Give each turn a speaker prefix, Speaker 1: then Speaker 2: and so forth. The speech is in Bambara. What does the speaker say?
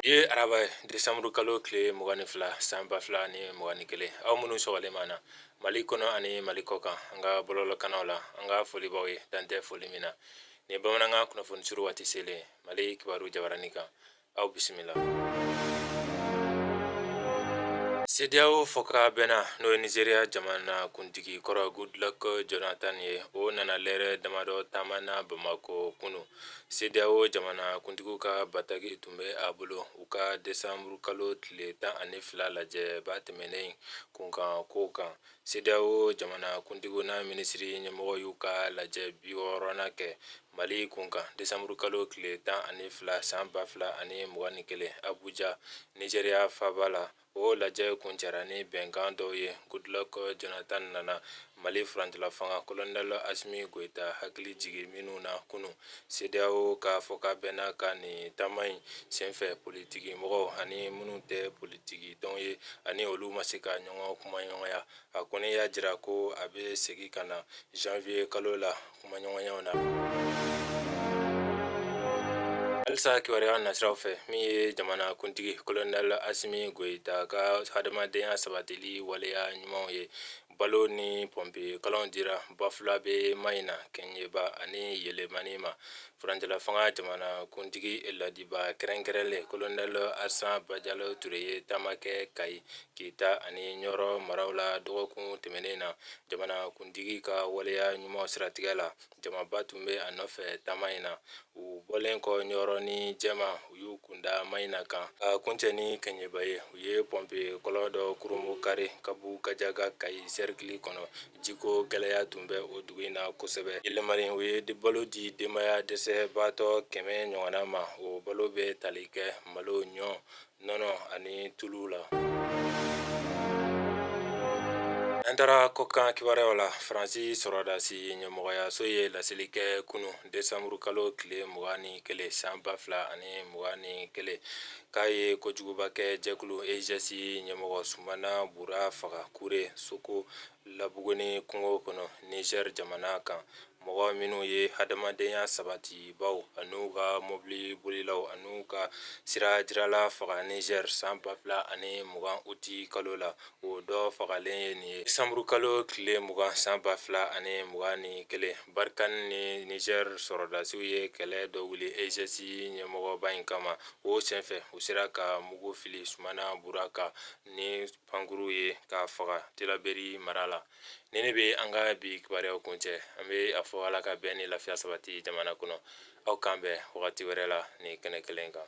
Speaker 1: ye araba desanburu kalo tile mugan ni fila san ba fila ni mugan ni kelen aw minnu sɔgɔlen b'an na mali kɔnɔ ani mali kɔkan an ka bɔlɔlɔkannaw la an ka foli b'aw ye dan tɛ foli min na nin bamanankan kunnafoni suru waati selen mali kibaru jabarani kan Aw bisimila CEDEAO fɔkabɛnna n'o ye Nizeriya jamana kuntigi kɔrɔ Goodluck Jonathan ye o nana lɛrɛ damadɔ taama na bamakɔ kunun CEDEAO jamanakuntigiw ka bataki tun bɛ a bolo u ka desanburukalo tile tan ani fila lajɛ ba tɛmɛnnen kunkankow kan CEDEAO jamanakuntigiw n'a minisiri ɲɛmɔgɔ y'u ka lajɛ biwɔɔrɔnan kɛ Mali kunkan desanburukalo tile tan ani fila san ba fila ani mugan ni kelen Abuja, Nizeriya faaba la. O lajɛ kuncɛra ni bɛnkan dɔw ye Goodluck Jonathan nana Mali furancɛlafanga kolonɛli Asimi Goyita hakili jigi minnu na kunun. CEDEAO ka fɔkabɛnna ka nin taama in senfɛ politiki mɔgɔw ani minnu tɛ politikitɔn ye a ni olu ma se ka ɲɔgɔn kumaɲɔgɔnya a kɔni y'a jira ko a bɛ segin ka na janvier kalo la kumaɲɔgɔnyaw na halisa kibaruya nasiraw fɛ min ye jamana kuntigi kolonɛl asimi goyita ka hadamadenya sabatili waleya ɲumanw ye balo ni pɔnpi kɔlɔn dira bafulabɛ mayina keɲeba ani yelimani ma furancɛla fanga jamana kuntigi ladibaa kɛrɛnkɛrɛnlen kolonɛl asan bajalo ture ye taama kɛ kayi kita ani ɲɔrɔ maraw la dɔgɔkun tɛmɛnen na jamanakuntigi ka waleya ɲuman siratigɛ la jamaba tun bɛ a nɔfɛ taama in na u bɔlen kɔ ɲɔrɔ ni jɛma u y'u kunda mayina kan ka kuncɛ ni keɲeba ye u ye pɔnpe kɔlɔn dɔ kurunbɔnkari kabu gajaga kayi sɛrikili kɔnɔ jiko gɛlɛya tun bɛ o dugu in na kosɛbɛ yelimani u ye balo di denbaya dɛsɛbaatɔ kɛmɛ ɲɔgɔnna ma o balo bɛ tali kɛ malo ɲɔ nɔnɔ ani tulu la an taara kɔkan kibaruyaw la faransi sɔrɔdasi ɲɛmɔgɔyaso ye laseli kɛ kunu desanburu kalo tile mugan ni kelen san ba fila ani mugan ni kelen k'a ye kojuguba kɛ jɛkulu EGS ɲɛmɔgɔ sumana bura faga kure soko labuguni kungo kɔnɔ nizɛri jamana kan mɔgɔ minnu ye hadamadenya sabatibaw an'u ka mɔbili bolilaw an'u ka sira jirala faga Niger san ba fila ani mugan uti kalo la, o dɔ fagalen ye nin ye desanburu kalo tile mugan san ba fila ani mugan ni kelen. Barikani ni Niger sɔrɔdasiw ye kɛlɛ dɔ wuli EGS ɲɛmɔgɔba in kama, o senfɛ u sera ka mugu fili Sumana Bura kan ni pankurun ye k'a faga Tilaberi mara la. nin de bɛ an ka bi kibaruyaw kuncɛ an bɛ a fɔ ala ka bɛn ni lafiya sabati jamana kɔnɔ aw k'an bɛn wagati wɛrɛ la nin kɛnɛ kelen kan